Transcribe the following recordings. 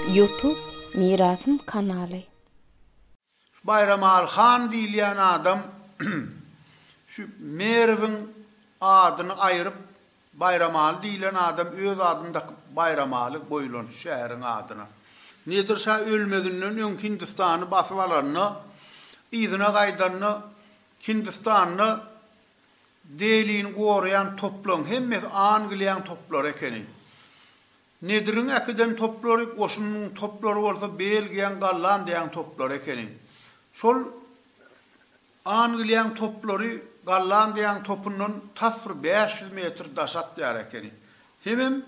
Youtube Mirasym kanaly. Baýramaly han diýilýän adam şu Merwiň adyny aýryp Baýramaly diýlen adam öz adyny dakyp Baýramaly goýulan şu şäheriň adyna. Nedir şa ölmezinden öň Hindistany basyp alanda, yzyna gaýdanda Hindistanda Delini goraýan toplaň hemmesi Angliýaň toplary ekeni. Nediriň äkiden toplary, goşunynyň toplary bolsa Belgiýaň, Gollandiýaň toplary ekeni. Şol. Angliýaň toplary Gollandiýaň topundan tas bir bäş ýüz metr daş atýar ekeni. Hemem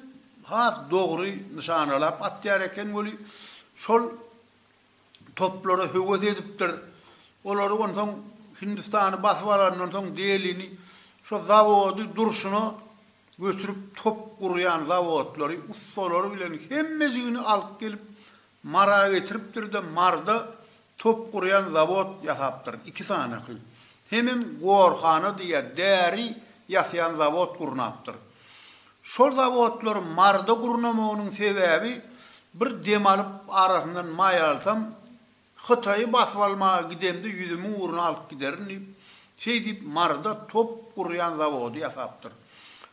has dogry nyşanalap atýar eken weli, şol toplara höwes edipdir. Olary onsoň Hindistany basyp alandan soň Delini şo zawody durşuna göçürip top gurýan zawodlary, ussalary bilen hemmejigini alyp gelip Mara getiripdir-de, Marda top gurýan zawod ýasapdyr, iki sanaky. Hemem gorhana diýýär, däri ýasaýan zawod gurnapdyr. Şol zawodlary Marda gurnamagynyň sebäbi, bir dem alyp, arasyndan maý alsam, Hytaýy basyp almaga gidemde ýüzümiň ugruna alyp giderin diýip, Şeýdip Maryda top gurýan zawody ýasapdyr.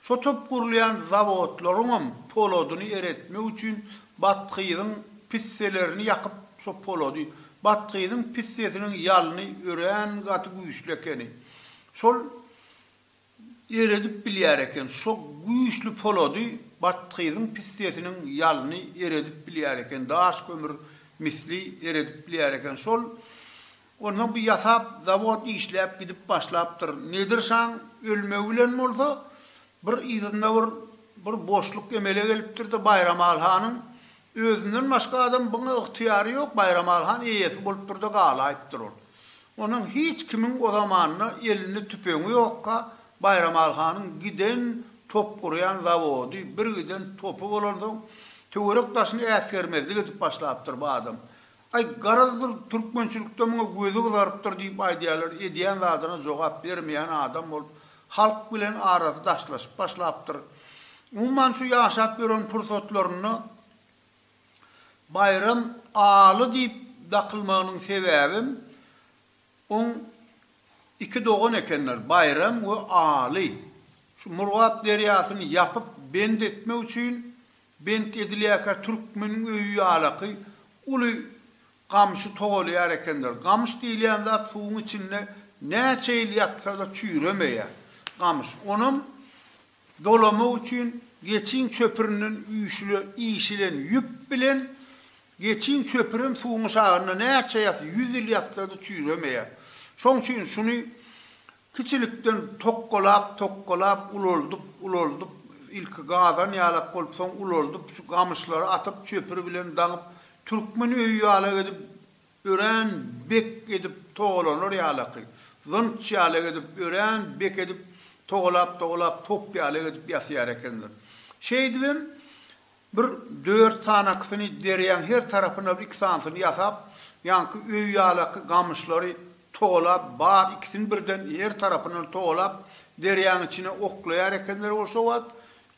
Şo top gurulýan zawodlaryňam poladyny eretmek üçin bathyzyň pisselerini ýakyp şo polady, bathyzyň pissesiniň ýalyny örän gaty güýçli ekeni. Şol eredip bilýär eken. Şo güýçli polady, bathyzyň pissesiniň ýalyny eredip bilýär eken. Daş kömür misli eredip bilýär eken. Şol Onsoň bu ýasap zawod işläp gidip başlapdyr. Nedir şaň ölmegi bilen bolsa, bir yzynda bir bir boşluk emele gelipdir-de, Baýramaly hanyň özünden başga adam buňa ygtyýary ýok, Baýramaly han eýesi bolupdyr-da galaýypdyr ol. Onsoň hiç kimiň o zamanda elinde tüpeňi ýokka, Baýramaly hanyň giden top gurýan zawody, bir giden topy bolansoň, töwerek-daşyny äsgermezlik edip başlapdyr bu adam. Aý, garaz bir türkmençilikde muňa gözi gyzarypdyr diýip aýdýarlar, edýän zadyna jogap bermeýän adam bolup, halk bilen arasy daşlaşyp başlapdyr. Umuman şu ýaşap ýören pursatlarynda Baýram Aly diýip dakylmagynyň sebäbem oň iki dogan ekenler, Baýram we Aly. Şu Murgap derýasyny ýapyp, bend etmek üçin Bent edilýärkä türkmeniň öýi ýalaky uly gamşy togalaýar ekenler. Gamyş diýilýän zat suwuň içinde näçe ýyl ýatsa-da çüýremeýär. Gamyş, onam dolamak üçin geçiň çöpürinden üýşüle işilen ýüp bilen geçiň çöpürem suwuň şagynda näçe ýas, ýüz ýyl ýatsa-da çüýremeýär. Şoň üçin şuny Kiçilikden tokgalap, tokgalap, ulaldyp, ulaldyp, ilki gazan ýalak bolup, soň ulaldyp, şu gamyşlary atyp, çöpür bilen daňyp, türkmen öýi ýalak edip, örän bek edip togalanar ýalaky, zynç ýalak edip, örän bek edip togalap-togalap, top ýalak edip ýasaýar ekenler. Şeýdibem, Bir dört sanakysyny derýaň her tarapyna bir iki sanysyny ýasap, ýaňky öý ýalaky gamyşlary togalap, bar ikisini birden her tarapyndan togalap, derýaň içine oklaýar ekenler ol şo wagt,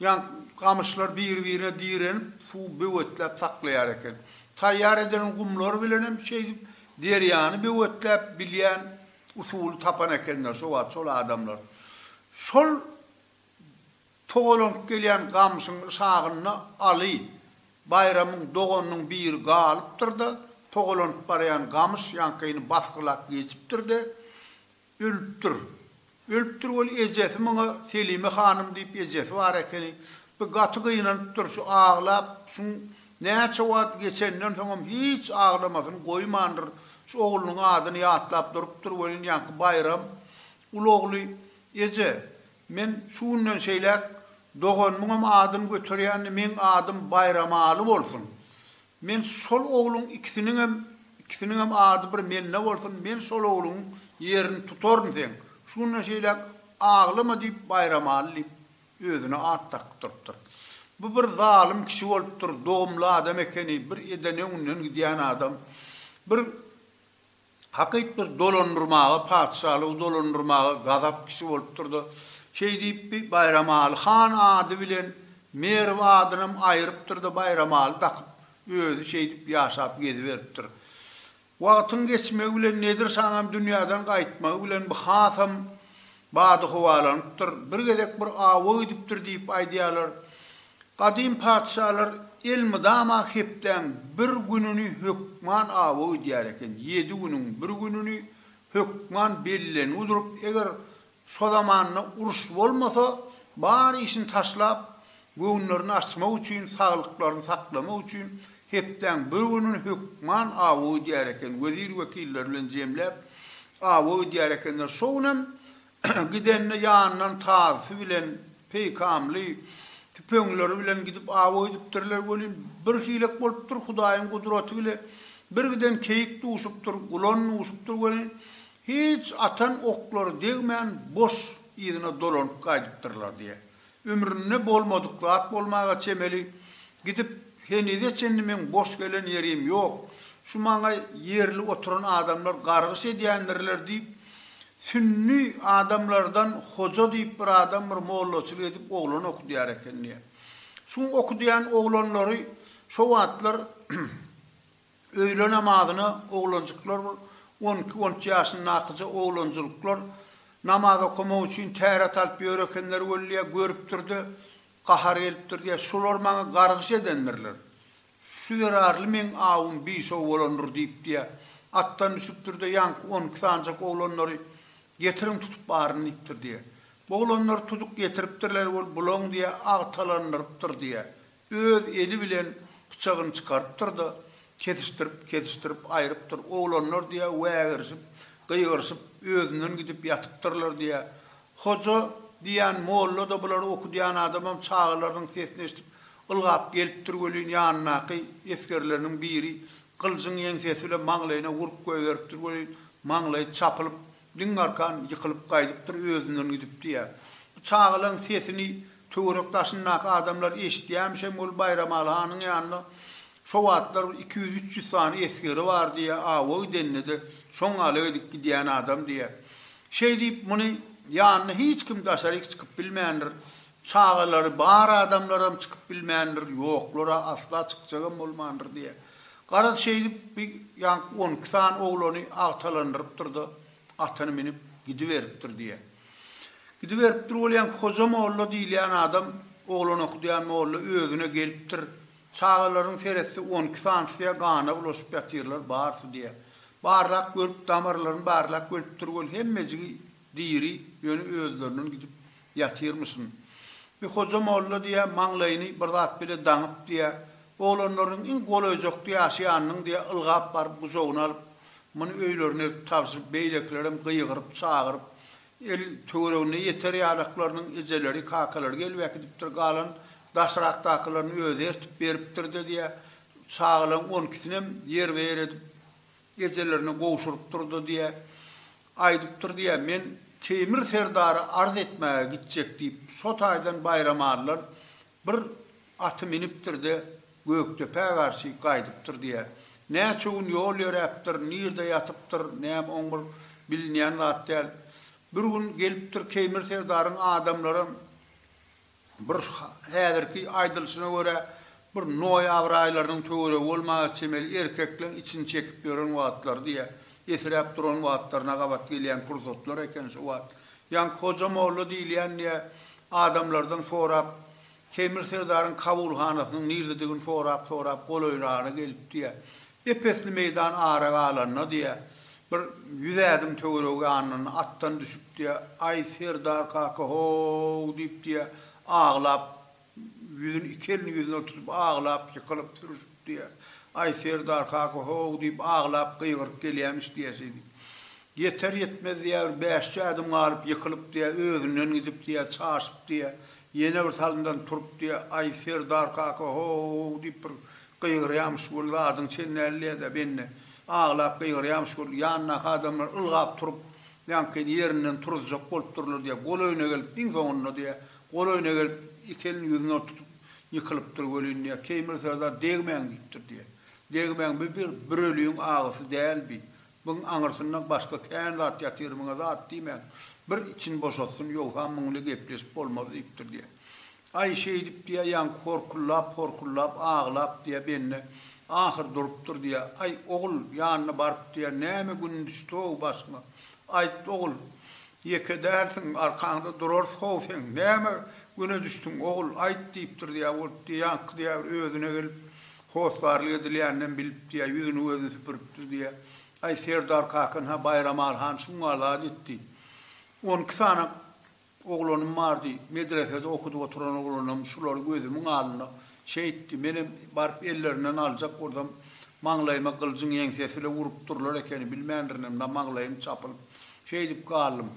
ýaňky gamyşlar biri-birine direnip, suwy böwetläp saklaýar eken. Taýýar edilen gumlar bilenem şeýdip derýany böwetläp bilýän usuly tapan ekenler şo wagt şol adamlar. Şol. Togalanyp gelýän gamşyň şagynda Aly Baýramyň doganynyň biri galypdyr-da, togalanyp barýan gamyş ýaňkyny basgylap geçipdir-de, ölüpdir. Ölüpdir ol ejesi muňa Selime hanym diýip ejesi bar ekeni. Bu gaty gynanypdyr, şu aglap, şuň näçe wagt geçenden soňam hiç aglamasyny goýmandyr, şu oglunyň adyny ýatlap durupdyr welin ýaňky Baýram uly ogly Eje, men şu günden şeýläk doganymyňam adyny göterýän, meň adym Baýramaly bolsun. Men şol ogluň ikisiniňem, ikisiniňem ady bir mende bolsun, men şol ogluň ýerini tutaryn seň, şu günden şeýläk aglama diýip Baýramaly diýip özüne at dakyp durypdyr. Bu bir zalym kişi bolupdyr, dogumly adam ekeni, bir edene-günden gidýän adam. Bir Hakytdyr, dolandyrmaga, patyşalygy dolandyrmaga gazap kişi bolupdyr-da, şeý diýipdi, Baýramaly han ady bilen Merw adynam aýrypdyr-da, Baýramaly dakyp, özi şeýdip ýaşap geziberipdir. Wagtyň geçmegi bilen Nedir şaňam dünýäden gaýtmagy bilen bu hasam Bady howalanypdyr, bir gezek bir awa gidipdir diýip aýdýarlar. Gadym patyşalar elmydama hepdäň bir gününi hökman awa gidýär eken, ýedi günüň bir gününi hökman bellengi durup, eger şo zamanda uruş bolmasa, bar işini taşlap, Göwünlerini açmak üçin, saglyklaryny saklamak üçin hepdäň bir gününi hökman awa ödýär eken, wezir-wekiller bilen jemläp, awa ödýär ekenler. Şo gün hem gidende ýanyndan tazysy bilen, peýkamly tüpeňleri bilen gidip awa ödüpdirler welin, bir hilek bolupdyr, Hudaýyň gudraty bile, birgiden keýik duşupdyr, gulan duşupdyr welin, hiç atan oklary degmän, boş yzyna dolanyp gaýdypdyrlar diýýär. Ömründe bolmadyk zat bolmaga çemeli, gidip, henize çenli meň boş gelen ýerim ýok, şu maňa ýerli oturan adamlar gargyş edýändirler diýip, sünni adamlardan hoja diýip bir adam bir mollaçylyk edip oglan okudýar eken diýýär. Şuň okudýan oglanlary şo wagtlar Öýle namazyna oglanjyklar on iki, on üç ýaşyndakyja oglanjylyklar namaz okamak üçin täret alyp ýör ekenler weli, görüpdir-de, gahar gelipdir diýýär, Şular maňa gargyş edendirler. Şu zerarly meň awum biş-ow bolandyr diýip diýýär. Atdan düşüpdir-de, ýaňky on iki sanjak oglanlary, Getiriň tutup baryn diýipdir diýýär. Bu oglanlar tujuk getiripdirler weli, Bulaň diýýär, agtalandyrypdyr diýýär. Öz eli bilen pyçagyny çykarypdyr-da, kesişdirip, kesişdirip aýrypdyr. Oglanlar diýýär, wägirişip, gygyryşyp, özünden gidip ýatypdyrlar diýýär. Hoja diýýän molla-da, bulary okudýan adamam çagalarynyň sesini eşidip, ylgap gelipdir welin, ýanyndaky esgerleriniň biri gyljyň ýeňsesi bilen maňlaýyna urup goýberipdir welin, maňlaýy çapylyp, Diň arkan ýykylyp gaýdypdyr, özünden gidip diýýär. Bu çagalaň sesini töwerek daşyndaky adamlar eşitýämişem, ol Baýramaly hanyň ýanynda şo wagtlar bir iki ýüz-üç ýüz sany esgeri bar diýýär, awa gidende-de şoň ala edip gidýän adam diýýär. Şeý diýip, muny ýanyna hiç kim daşaryk çykyp bilmändir. Çagalary bar adamlaram çykyp bilmändir, ýoklar-a asla çykjagam bolmandyr diýýär. Garaz, şeýdip, bi ýaňky on iki sany oglany agtalandyrypdyr-da, atyny münüp, gidiberipdir diýýär. Gidiberipdir bolýan Hoja molla diýilýän adam, oglan okudýan molla özüne gelipdir. Çagalaryň seretse, on iki sanysy-ä gana bulaşyp ýatyrlar, barysy, diýýär. Barlap görüp, damarlaryny barlap görüpdir weli, hemmejigi. Diri, ýöne özlerinden gidip ýatyrmyşyn. Bir hoja molla diýýär, maňlaýyny bir zat bile daňyp diýýär. Oglanlarynyň iň golaýjakdy ýaşy ýanynyň diýýär, ylgap baryp gujagyna alyp, muny öýlerine eltip tabşyryp, beýlekilerem gygyryp, çagyryp, el töweregine ýeter ýalaklarynyň ejeleri, kakalary gelip äkidipdir, galan daşrakdakylaryny özi ertip beripdir-de diýýär. Çagalaň on ikisinem ýerbe-ýer edip, Gejelerini gowşurypdyr-da diýýä. Aýdypdyr diýýä, Men Teýmir serdara arz etmäge gitjek diýip, şo taýdan Baýram adylan bir aty minipdir-de, Gökdepä garşy gaýdypdyr diýýä. Näçe gün ýol ýöräpdir, nirde ýatypdyr, näme, oň bir bilinýän zat däl. Bir gün gelipdir Keýmir serdaryň adamlaram Bir häzirki aýdylyşyna görä, bir noýabr aýlarynyň töweregi bolmaga çemeli erkekleň içini çekip ýören wagtlary diýýär. Esiräp duran wagtlaryna gabat gelýän pursatlar eken şu wagt. Ýaňky Hoja molla diýilýän diýýär, adamlardan sorap, Keýmir serdaryň kabulhanasynyň nirdedigini sorap-sorap golaýragyna gelipdi diýýär. Ep-esli meýdan ara galanda, diýýär, bir ýüz ädim töweregi ýanynda atdan düşüp, diýýär, Aý, serdar kaka, ho-ow! diýip, diýýär, aglap, ýüzüni iki elini ýüzüne tutup aglap, ýykylyp, sürüşip, diýýär, Aý, serdar kaka, ho-ow! diýip, aglap, gygyryp gelýämiş, diýýär, şeýdip. Ýeter-ýetmez, diýýär, bir bäş-üç ädim galyp, ýykylyp, diýýär, özünden gidip, diýýär, çaşyp, diýýär, ýene birsalymdan turup, diýýär, Aý, serdar kaka, ho-ow! diýip, bir Gygyrýamyş gül, zadyň çen däldiýä-dä, bende. Aglap gygyrýamyş gül. Ýanyndaky adamlar ylgap turup, ýaňkyny ýerinden turuzjak bolup durlar diýä. Golaýyna gelip, iň soňunda diýä. Golaýyna gelip, iki elini ýüzüne oturtyp, ýykylypdyr welin diýä. Keýmir söz-ä degmäň diýipdir diýä. Degmäň bi bir, bir öliň agysy däl bi. Muň aňyrsynda başga kän zat ýatyr, muňa zat diýmäň, bir için boşatsyn, ýogsa muň ile gepleşip bolmaz diýipdir, diýýä. Aý, şeýdip diýýä, ýaňky horkullap, horkullap, aglap diýýä, bende, ahyr durupdyr, diýýä. Aý, ogul, ýanyna baryp diýýä, näme gün düşdi-ow başyňa? Aýt, ogul, ýeke dälsiň, arkaňda durarys-how seň, näme güne düşdüň, ogul, aýt diýipdir, diýýä, ol, diýýä, ýaňky, diýýä, bir özüne gelip, Hossarlyk edilýändem bilipdi ýa ýüzüni-gözüni süpüripdir diýýä. Aý, Serdar kakan-ha Baýramal han şuňa zat etdi. On iki sany oglanym bardy. Medresede okudyp oturan oglanym şulary gözümiň alnynda şeýtdi. Menem baryp ellerinden aljak boldum. Maňlaýyma gyljyň ýeňsesi ile urup durlar ekeni, bilmändirinimde maňlaýym çapylyp, şeýdip galdym.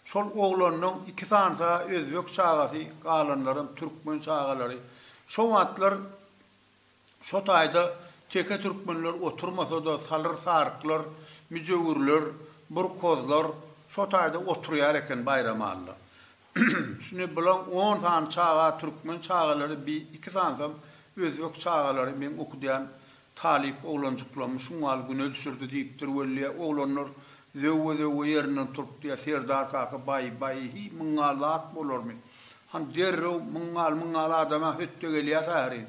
Şol oglanynyň iki sanysy-ha özbek çagasy, galanlaram türkmen çagalary. Şo wagtlar Şo taýda teke türkmenler oturmasa-da salyr saryklar, müjewürler, burkozlar şo taýda oturýar eken Baýramalla. Şüni bulaň on sany çaga türkmen çagalary bi iki sansam özbek çagalary meň okudýan talyp oglanjyklarymy şungal güne düşürdi diýipdir wellä oglanlar zöwwe-zöwwe ýerinden turupdyýa Serdar kaka baý-baý-hyý myňa zat bolarmy Han derrew, Myň gal, myň gal, adam-a hötde gelýär säheri.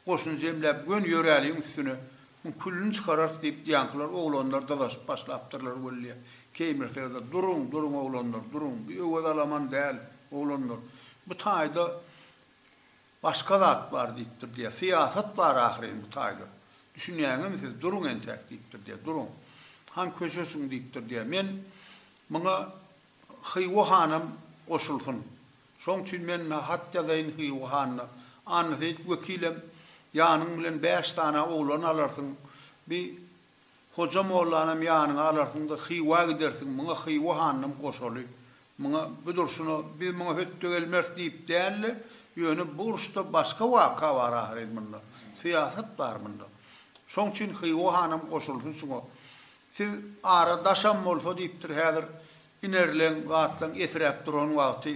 Goşuny jemläp, gön ýöräligiň üstüne. Muň küllini çykararys, diýip, ýaňkylar, oglanlar dyzaşyp başlapdyrlar wellýa. Keýmirseler-de, Duruň, duruň, oglanlar, duruň. Bu Öwez alaman däl, oglanlar. Bu taýda başga zat bar, diýipdir, diýýär. Syýasat bar ahyryn bu taýda. Düşünýäňizmi siz? Duruň entäk, diýipdir, diýýär. Duruň. Han köşeşiň, diýipdir, diýýär. Men muňa Hywa hanam goşulsyn. Şoň üçin men na hat ýazaýyn Hywa hanyna. Annaseýit wekilem, ýanyň bilen bäş sany oglan alarsyň. Bi Hoja mollanam ýanyňa alarsyň-da, Hywa gidersiň. Muňa Hywa hanynam goşaly. Muňa bu durşuna biz muňa hötde gelmeris diýip däl-de, ýöne bu uruşda başga waka bar ahyryn munda. Syýasat bar munda. Şoň üçin Hywa hanam goşulsyn şuňa. Siz ara daşam bolsa diýipdir häzir inerleň zatlaň ýesiräp duran wagty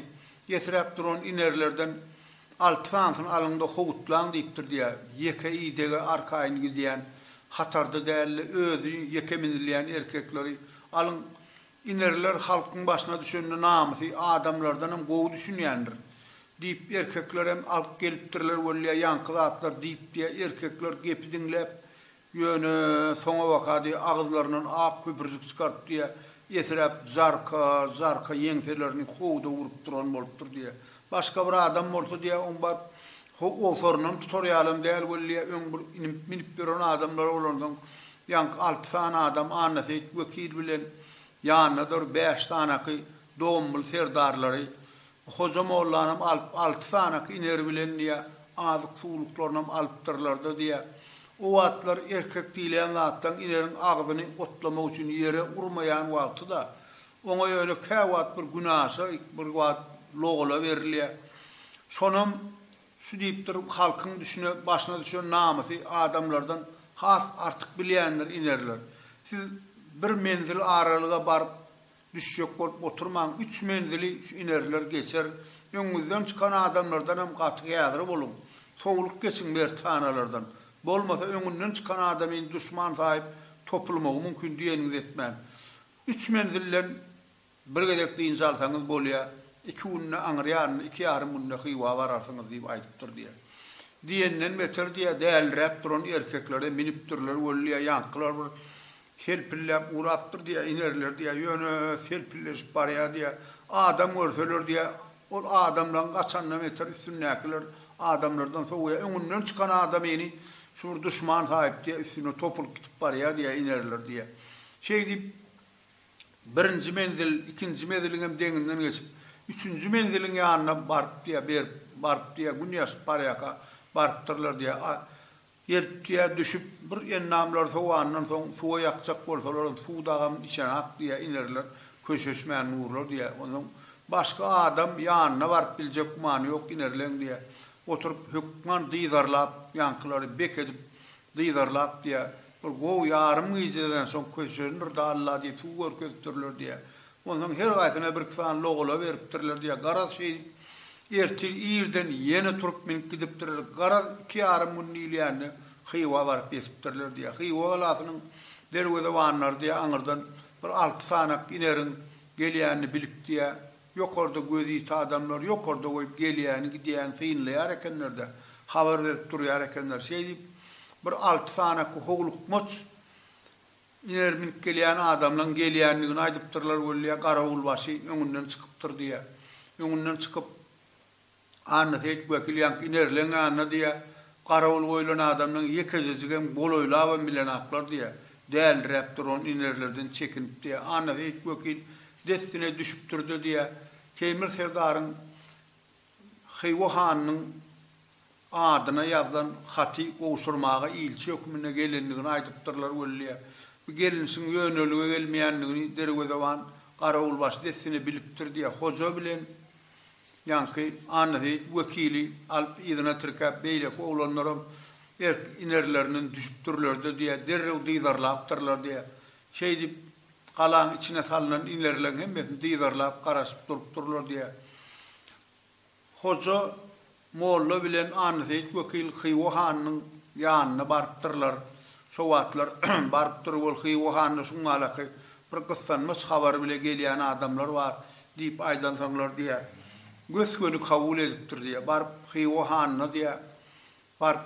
ýesiräp duran inerlerden alty sanysyny alyňda howutlaň diýipdir diýä ýeke idege arkaýyn gidýän hatarda dälde özi ýeke minilýän erkekleri alyň inerler halkyň başyna düşende namysy adamlardanam gowy düşünýändir diýip erkeklerem alyp gelipdirler wellýa ýaňky zatlar diýip diýä erkekler gepi diňläp Ýöne, soňabaka diýe agyzlaryndan ak köpürjik çykaryp diýe, esiräp jarka, jarka ýeňselerini howda urup duran bolupdyr diýe. Başga bir adam bolsa diýe, oň baryp owsaryndan tutar ýalam däl weli, öň bir inip, minip ýören adamlar bolansoň, ýaňky alty sany adam Annaseýit wekil bilen ýanyndadyr bäş sanaky Dombul serdarlary Hoja mollanam alyp, alty sanaky iner bilen diýä, azyk-suwluklarynam alypdyrlar-da diýä. O wagtlar erkek diýlen zatdan ineriň agzyny otlamak üçin ýere urmaýan wagty-da, oňa ýöne käwagt bir günaşa, bir wagt logala berilýä. Şonam şu diýipdir, halkyň düşüne, başyna düşen namysy adamlardan has artyk bilýändir inerler. Siz bir menzil aralyga baryp, Düşjek bolup oturmaň üç menzili şu inerler geçer öňňüzden çykan adamlardan hem gaty gähri boluň sowluq geçiň mertanalardan bolmasa öňünden çykan adamyny duşman saýyp topulmagy mümkin diýeniňizi etmäň üç menzilden bir gezek dynç alsaňyz bolýa iki günde aňyr ýanynda iki ýarym günde hywa bararsyňyz diýip aýdypdyr diýä diýenden beter diýä däliräp duran erkeklere minipdirler wellýa ýaňkylar bir Selpilläp ugrapdyr diýýär, inerler diýýär, ýöne selpilleşip barýar diýýär. Adam görseler diýýär, ol adamlaň gaçandan beter üstündäkiler adamlardan sowýar. Öňünden çykan adamyny şu bir duşman saýyp diýýär, üstüne topulyp gidip barýar diýýär, inerler diýýär. Şeý diýip, birinji menzil, ikinji meziliňem deňinden geçip, üçünji menziliň ýanyna baryp diýýär, berip, baryp diýýär, gün ýaşyp barýarka barypdyrlar diýýär. Eltýä düşüp, bir ennamlar sowandan soň, suwa ýakjak bolsalaram, suw dagam içenak diýýä, inerler, köşeşmän durlar diýýä. Onsoň başga adam ýanyna baryp biljek gümany ýok, inerleň diýýä. Oturyp, hökman dyzarlap, ýaňkylary bek edip, dyzarlap diýýä. Bir gowy ýarym gijeden soň köşeşendir-de Alla diýip, suw görkezipdirler diýýä. Onsoň her gaýsyna bir-iki sany logula beripdirler diýýär. Garaz, şeýdip, ertir irden ýene turup münüp gidipdirler. Garaz, iki ýarym gün diýilýände Hywa baryp ýetipdirler diýýär. Hywa galasynyň derwezebanlary diýýär, aňyrdan bir alty sanak ineriň gelýänini bilip diýýär, ýokarda gözi ýiti adamlar ýokarda goýup gelýäni, gidýäni synlaýar ekenler-de, habar berip durýar ekenler. Şeýdip, bir alty sanaky howlukmaç Iner minip gelýän adamlaň gelýändigini aýdypdyrlar weli garawulbaşy öňünden çykypdyr diýýä. Öňünden çykyp Annaseýit wekil ýaňky inerleň ýanyna diýýä garawul goýlan adamlaň ýekejejigem golaýlabam bilenaklar diýýä. Däliräp duran inerlerden çekinip diýýä. Annaseýit wekil dessine düşüpdirde diýýä. Keýmir serdaryň Hywa hanynyň adyna ýazylan haty gowşurmaga ilçi hökmünde gelendigini aýdypdyrlar weli, bu gelnişiň ýönelige gelmeýändigini derwezeban garawulbaşy dessine bilipdir diýýär. Hoja bilen ýaňky Annaseýit wekili alyp yzyna tirkäp, beýleki oglanlaram erk inerlerinden düşüpdirler-de diýýär, derrew dyzarlapdyrlar diýýär. Şeýdip, Galaň içine salnan inerleň hemmesini dyzarlap garaşyp durupdyrlar diýýär. Hoja molla bilen Annaseýit wekil Hywa hanynyň ýanyna barypdyrlar. Şo wagtlar barypdyr, ol Hywa hanyna şuňňalaky bir gyssanmaç habary bile gelýän adamlar bar diýip aýdansoňlar diýýär. Gös-göni kabul edipdir diýýär. Baryp Hywa hanyna diýýär. Bar.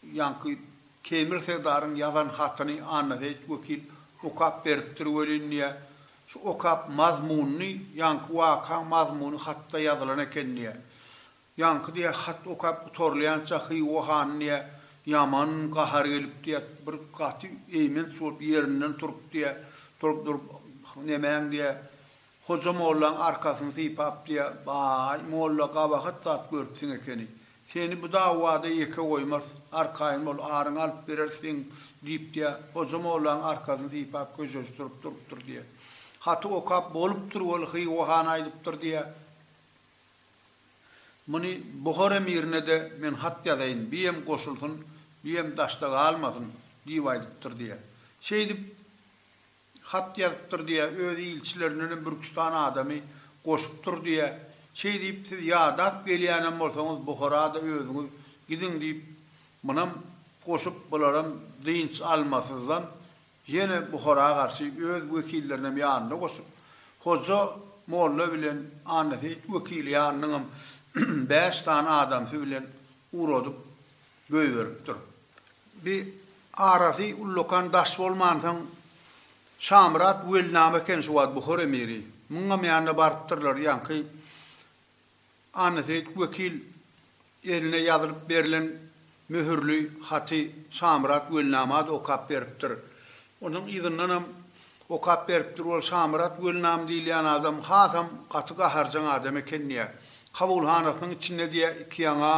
Ýaňky Temir serdaryň ýazan hatyny Annaseýit wekil okap beripdir welin, diýýär. Şu okap mazmunyny, ýaňky wakaň mazmuny hatda ýazylan eken, diýýär. Ýaňky, diýýär, hat okap gutarylýança Hywa hany, diýýär, ýaman gahary gelip, diýýär, bir gaty eýmenç bolup ýerinden turup, diýýär, durup-durup, Nemäň, diýýär, Hoja mollaň arkasyny sypap diýýär, Baý, molla gabahat zat görüpsiň ekeni. Seni bu dawada ýeke goýmarys, arkaýyn bol, aryňy alyp bereris seň, diýip diýýär. Hoja mollaň arkasyny sypap köşeşdirip durupdyr diýýär. Haty okap bolupdyr weli Hywa han aýdypdyr diýýär, Muny Buhar emirine-de men hat ýazaýyn, biem goşulsyn, biem daşda galmasyn, diýip aýdypdyr diýýär. Şeýdip, Hat ýazypdyr diýä, öz ilçilerindenem bir üç sany adamy goşupdyr diýä. Şeý diýip, siz ýadap gelýänem bolsaňyz, Buhara-da özüňiz gidiň diýip, munam goşup, bularam dynç almasyzdan, ýene Buhara garşy öz wekillerinem ýanynda goşup, Hoja molla bilen Annaseýit wekili ýanynyňam bäş sany adamsy bilen Ugradyp göýberipdir. Bi arasy ullakan daş bolmansoň, Şamyrat welnama eken şu wagt Buhar emiri. Muňam ýanyna barypdyrlar. Ýaňky Annaseýit wekil eline ýazylyp berlen möhürli haty Şamyrat welnama-da okap beripdir. Onuň yzyndanam okap beripdir. Ol Şamyrat Welnam diýilýän adam hasam gaty gaharjaň adam eken diýýär. Kabulhanasynyň içinde diýýär, iki ýaňa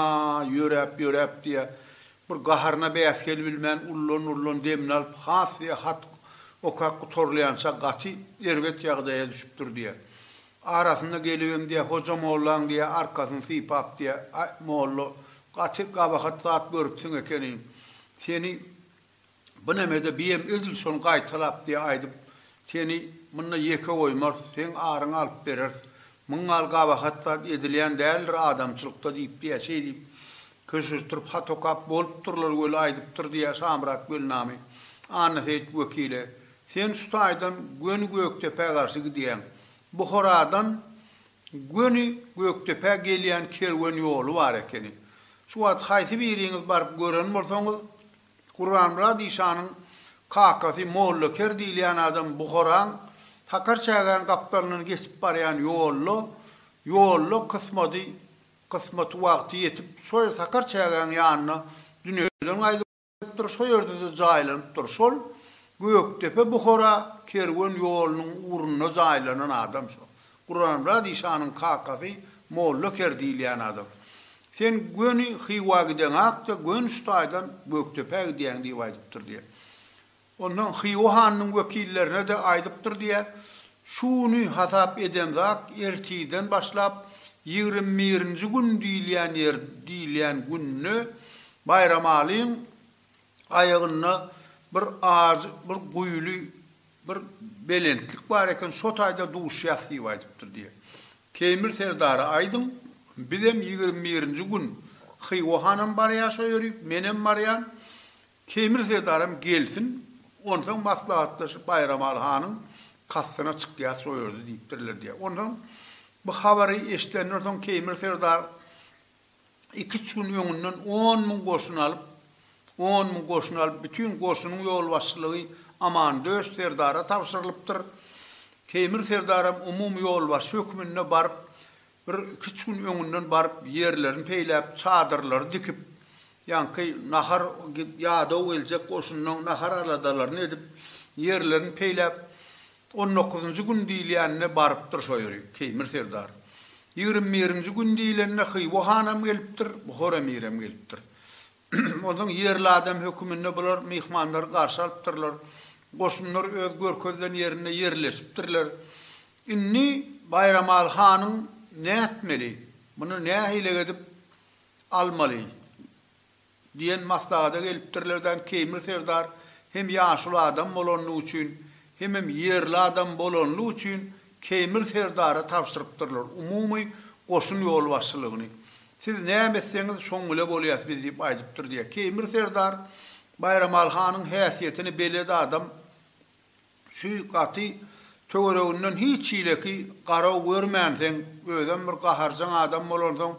ýöräp-ýöräp diýýär, bir gaharyna bäs gelibilmän ullan-ullan demini alyp, has diýýär, hat okap gutarylýança gaty erbet ýagdaýa düşüpdir diýýär. Arasynda gelibem diýýär, hoja mollaň diýýär, arkasyny sypap diýýär, Aý, molla, gaty gabahat zat görüpsiň ekeniň. Seni Bu nemede biýem edil şony gaýtalap diýe aýdyp seni munda ýeke goýmarys, seň aryňy alyp bereris. Muň gal gabahat zat edilýän däldir adamçylykda diýip diýe şeýdip köşeşdirip hat okap bolupdyrlar weli aýdypdyr diýe Şamyrat Gelnamy Annaseýit wekile sen şu taýdan göni Gökdepä garşy gidýäň. Buharadan göni Gökdepä gelýän kerwen ýoly bar ekeni. Şu wagt haýsy biriňiz baryp gören bolsaňyz Gurbanmyrat işanyň kakasy Mollaker diýilýän adam Buharaň Sakarçägäň gapdalyndan geçip barýan ýolda, ýolda kysmady, kysmaty wagty ýetip, şo ýer Sakarçägäň ýanynda dünýeden gaýdypdyr, şo ýerde-de jaýlanypdyr. Şol Gökdepe-Buhara kerwen ýolunyň ugrunda jaýlanan adam şo. Guramyrat işanyň kakasy Molla ker diýilýän adam. Sen göni Hywa gideňakda göni şu taýdan Gökdepä gidýäň diýip aýdypdyr diýýär. Ondan Hywa hanynyň wekillerine-de aýdypdyr diýýär. Şu güni hasap edemzak ertirden başlap ýigrimi birinji gün diýilýän ýer diýilýän günde Baýramalyň aýagynda bir az bir guýly bir belentlik bar eken, şo taýda duşýas diýip aýdypdyr diýýär. Teýmir serdara aýdyň, bizem ýigrimi birinji gün Hywa hanam barýaşa ýörik, menem barýan. Teýmir serdaram gelsin, onsoň maslahatlaşyp Baýramaly hanyň kastyna çykýas şo ýerde diýipdirler diýýär. Onsoň bu habary eşidenden soň Teýmir serdar iki-üç gün öňünden on müň goşun alyp, on müň goşun alyp, bütin goşunyň ýolbaşçylygy Amandöş serdara tabşyrylypdyr. Teýmir serdaram umumy ýolbaşçy hökmünde baryp, bir iki-üç gün öňünden baryp, ýerlerini peýläp, çadyrlary dikip, ýaňky nahar ýadaw geljek goşundan nahar aladalaryny edip, ýerlerini peýläp, On dokuzynjy gün diýilýänine barypdyr şo ýeri, Keýmir serdar. Ýigrimi birinji gün diýilende Hywa hanam gelipdir, Buhar emirem gelipdir. Onsoň ýerli adam höküminde bular myhmanlary garşy alypdyrlar. Goşunlar öz görkezilen ýerinde ýerleşipdirler. Indi Baýramaly hanyň nätmeli, muny nähili edip almaly? Diýen maslahada gelipdirler dan Keýmir serdar hem ýaşuly adam bolanlygy üçin hemem ýerli adam bolanlygy üçin Keýmir serdara tabşyrypdyrlar umumy goşun ýolbaşçylygyny. Siz näme etseňiz şoň bile bolýas biz diýip aýdypdyr diýýär. Keýmir serdar Baýramaly hanyň häsiýetini belet adam. Şüý gaty töwereginden hiç hileki garaw görmänseň, özem bir gaharjaň adam bolansoň,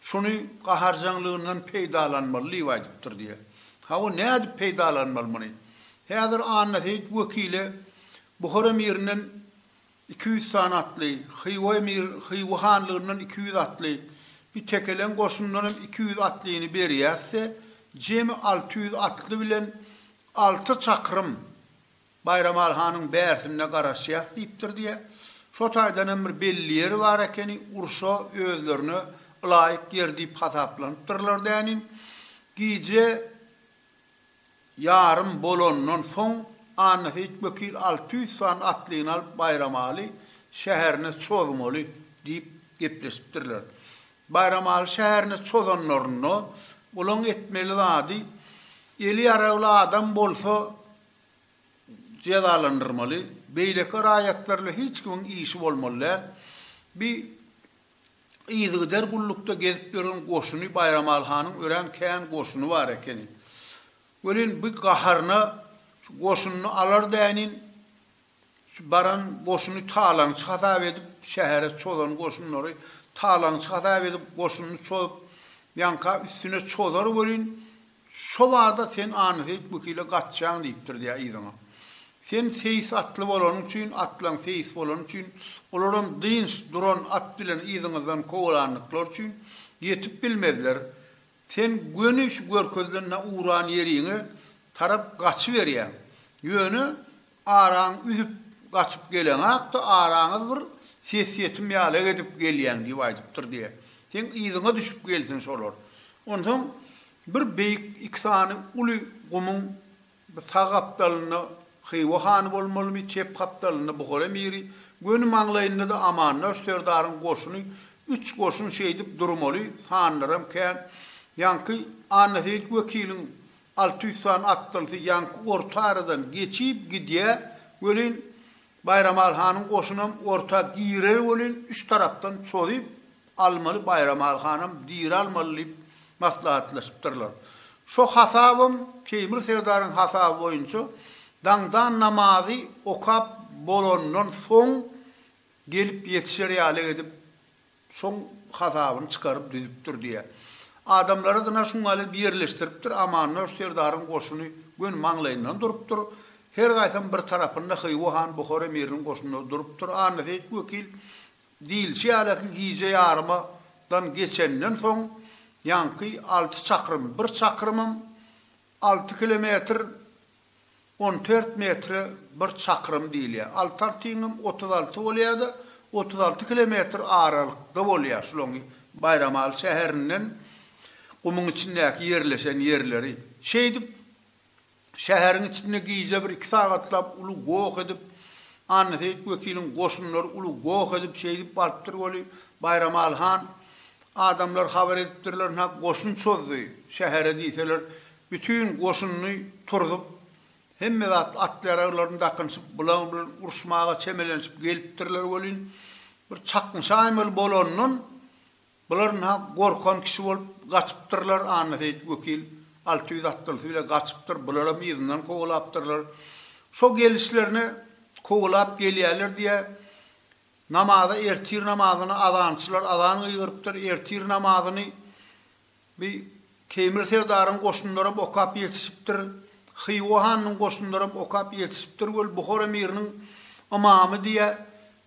şuny gaharjaňlygyndan peýdalanmaly diýip aýdypdyr diýýär. Hawa, nädip peýdalanmaly muny? Häzir Annaseýit wekile Buhar emirinden iki ýüz sany atly, Hywa emir, Hywa hanlygyndan iki ýüz atly, bir tekeleň goşundan hem iki ýüz atlyny berýäs-de, jemi alty ýüz atly bilen Alty çakrym Baýramaly hanyň bärsinde garaşýas diýipdir diýýä. Şo taýdan hem bir belli ýeri bar ekeni, urşa özlerine ylaýyk ýer diýip hasaplanypdyrlar dänin. Gije ýarym bolandan soň Annaseýit wekil alty ýüz sany atlyny alyp Baýramaly şäherine çozmaly diýip gepleşipdirler. Baýramaly şäherine çozanlarynda olaň etmeli zady, eli ýaragly adam bolsa jezalandyrmaly, beýleki raýatlarla hiç kimiň işi bolmaly däl. Bi yzygider gullukda gezip ýören goşuny Baýramaly hanyň örän kän goşuny bar ekeni. Welin bi gaharyna şu goşunyny alar dänin Şu baran goşuny talaňçy hasap edip, şähere çozan goşunlary talaňçy hasap edip, goşunyny çozup, ýaňka üstüne çozar welin, şo bada sen Anyseýit wekile gaçjaň diýipdir diýýär yzyňa. Sen seýis atly bolanyň üçin, atlaň seýis bolany üçin, olaram dynç, duran at bilen yzyňyzdan kowalandyklary üçin, ýetip bilmezler. Sen göni şu görkezilen-ä uran ýeriňe tarap gaçyberýäň. Ýöne, Araň üzüp, gaçyp geleňak-da, araňyz bir ses-ýetim ýalak edip gelýäň diýip aýdypdyr diýe. Seň yzyňa düşüp gelsin şolar. Onsoň bir beýik iki sany uly gumuň bir sag gapdalynda Hywa hany bolmalymy, çep gapdalynda Buhar emiri, göni maňlaýynda-da Amandaş serdaryň goşuny, üç goşun şeýdip durmaly, sanlaram kän. Ýaňky Annaseýit wekiliň Alty ýüz sany atdalsy ýaňky orta aradan geçip gidýär welin, Baýramaly hanyň goşunam orta girer welin, üç tarapdan çozup almaly Baýramaly hanam diralmaly diýip maslahatlaşypdyrlar. Şo hasabam Teýmir serdaryň hasaby boýunça daňdan namazy okap bolandan soň gelip ýetişer ýaly edip Şoň hasabyny çykaryp düzüpdir diýýär. Adamlary dyna şuňňaly birleşdiripdir, Amannoş serdaryň goşuny göni maňlaýyndan durupdyr. Her gaýsam bir tarapynda Hywa han Buhara emiriniň goşunlary durupdyr. Annaseýit wekil diýilişi ýaly ki, gije ýaryma dan geçenden soň ýaňky alty çakrym, bir çakrymam alty kilometr, On tört metre bir çakrym diýilýär. Altar tiňim otuz alty bolýar-da, otuz alty kilometr aralykda bolýar şulaň Baýramaly şäherinden gumuň içindäki ýerleşen ýerleri. Şeýdip, şäheriň içinde gije bir iki sagatlap uly goh edip, Annaseýit wekiliň goşunlary uly goh edip, şeýdip barypdyr weli, Baýramaly han, adamlar habar edipdirler, ynha, goşun çozdy şähere diýseler, Bütin goşunyny turzup, hemme zatly at-ýaraglaryny dakynşyp, bulaň bilen uruşmaga çemelenşip gelipdirler welin, bir çaknyşaýmaly bolandan, bular ynha gorkan kişi bolup gaçypdyrlar, Annaseýit wekil alty ýüz atlysy bile gaçypdyr, bularam yzyndan kowalapdyrlar. Şo gelişlerine kowalap gelýärler diýä, namaza ertir namazyna azançylar azan gygyrypdyr, ertir namazyny Bi Teýmir serdaryň goşunlaram okap ýetişipdir, Hywa hanynyň goşunlaram okap ýetişipdir weli Buhar emiriniň ymamy diýýä,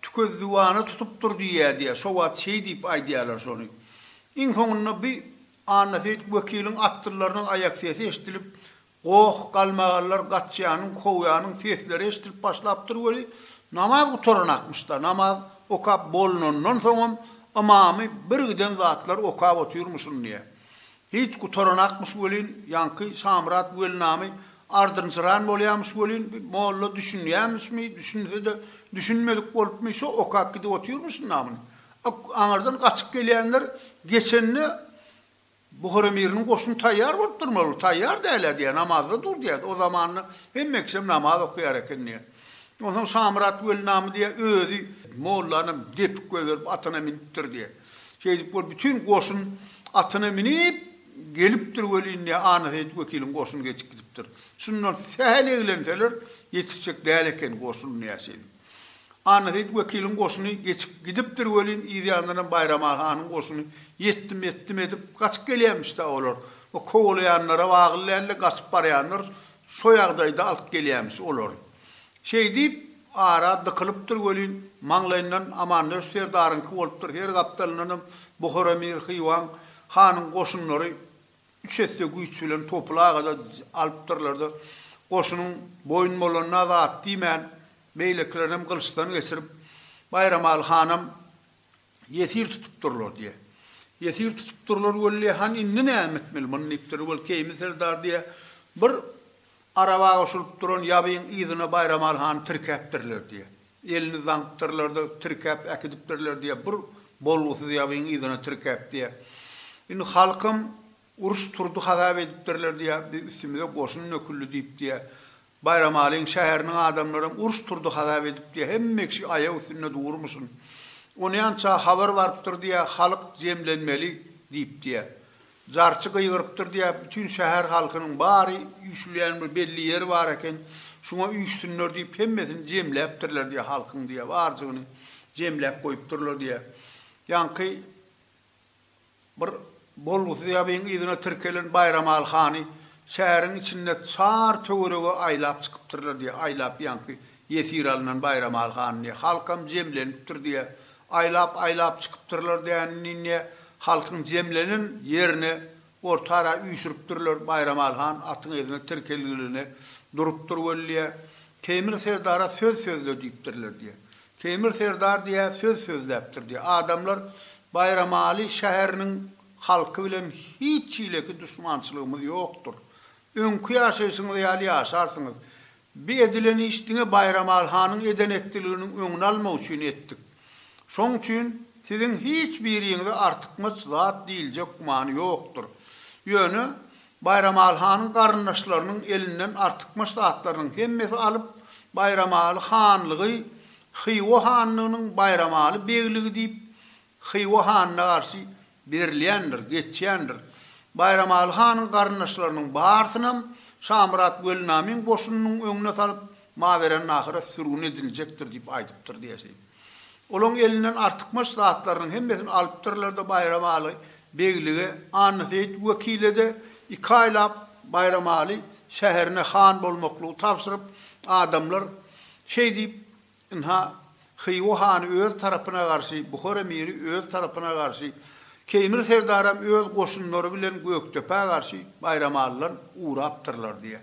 tükezdüwany tutupdyr diýýä diýýä, şo wagt şeý diýip aýdýarlar şony. Iň soňunda bi Annaseýit wekiliň atdyllarynyň aýak sesi eşidilip, Goh, galmagallar, gaçýanyň, kowýanyň sesleri eşidilip başlapdyr weli, namaz gutaranakmyş-da, namaz okap bolnandan soňam ymamy birgiden zatlar okap otyrmyş yndiýa. Hiç gutaranakmyş welin, ýaňky Şamyrat weli name ardynjyran bolýamyş welin, bi molla düşünýämişmi, düşünse-de düşünmedik bolupmy, şo okap gidip otyrmyş ynamyny. Aňyrdan gaçyp gelýänler geçende, Buhara miriniň goşuny taýýar bolup durmaly, taýýar däl-ä diýýär, namazda dur diýýär. O zamanda hemme kişem namaz okaýar eken diýýär. Onsoň Şamyrat weli name diýýär, özi mollanam depip goýberip atyna minipdir diýýär. Şeýdip bolup bütin goşun atyna minip gelipdir welin diýýär, Annaseýit wekiliň goşuny geçip gidipdir. Şundan sähel eglenseler ýetişjek däl eken goşun diýýär şeýdip. Annaseýit wekiliň goşuny geçip gidipdir welin, yzýandanam Baýramaly hanyň goşuny ýetdim, ýetdim edip, gaçyp gelýämiş-dä olar. O kowalaýanlara wagyl däldi, gaçyp barýanlar şo ýagdaýda alyp gelýämiş olary. Şeý diýip, ara dykylypdyr welin, maňlaýyndan Amandöş serdaryňky bolupdyr, her gapdalyndanam Buhara, Mir, Hywaň hanyň goşunlary Üç esse güýç bilen topul aga-da alypdyrlar-da, goşunyň boýun bolanyna zat diýmän, beýlekilerinem gylyçdan geçirip, Baýramaly hanam ýesir tutupdyrlar, diýýä. Ýesir tutupdyrlar, Weli han indi näme etmeli muny diýipdir. Weli Keými serdar, diýýä, bir araba goşulyp duran ýabyň yzyna Baýramaly hany tirkäpdirler, diýýä. Elini zaňkdyrlarda tirkäp äkidipdirler diýýär. Bir bolgusyz ýabyň yzyna tirkäp diýýär. Indi halkym uruş turdy hasap edipdirler diýýär. Biz üstümize goşun döküldi diýip diýýär. Baýramalyň şäheriniň adamlaram uruş turdy hasap edip diýýär. Hemme kişi aýak üstünde durmuşyn. Onýança habar barypdyr diýýär, halk jemlenmeli diýip diýýär. Jarçy gygyrypdyr diýä bütin şäher halkynyň bary üýşülýän bir belli ýeri bar eken, şuňa üýşsünler diýip hemmesini jemläpdirler diýä halkyň diýä barjygyny jemläp goýupdyrlar diýä. Ýaňky bir bolgusyz ýabyň yzyna tirkelen Baýramaly hany şäheriň içinde çar töwerege aýlap çykypdyrlar diýä, aýlap ýaňky Ýesir alnan Baýramaly han indi halkam jemlenipdir diýe, aýlap-aýlap çykypdyrlar däninden indi halkyň jemlenen ýerini orta ara üýşüripdirler. Baýramaly han atyň egne tirkelgiligine durupdyr weli diýe, Keýmir serdara söz sözle diýipdirler diýe. Keýmir serdar diýe söz sözläpdir diýe. Adamlar Baýramaly şäheriniň halky bilen hiç hileki duşmançylygymyz ýokdur. Öňki ýaşaýşyňyz ýaly ýaşarsyňyz. Bi edilen iş diňe Baýramaly hanyň eden-etdiliginiň öňüni almak üçin etdik. Şoň üçin siziň hiç biriňize artykmaç zat diýiljek gümany ýokdur. Ýöne Baýramaly hanyň garyndaşlarynyň elinden artykmaç zatlarynyň hemmesi alyp, Baýramaly hanlygy Hywa hanlygynyň Baýramaly begligi diýip, Hywa hanyna garşy berilýändir, geçýändir. Baýramaly hanyň garyndaşlarynyň barysynam Şamyrat Weli Namyň goşunynyň öňüne salyp, Mawerannahyra sürgün ediljekdir diýip aýdypdyr diýesi. Olaň elinden artykmaç zatlarynyň hemmesini alypdyrlar-da Baýramaly beglige, Annaseýit wekile-de iki aýlap Baýramaly şäherine han bolmaklygy tabşyryp, adamlar şeý diýip, Ynha, Hywa hany öz tarapyna garşy, Buhar emiri öz tarapyna garşy, Keýmir serdaram öz goşunlary bilen Gökdepä garşy Baýramalydan ugrapdyrlar diýýär.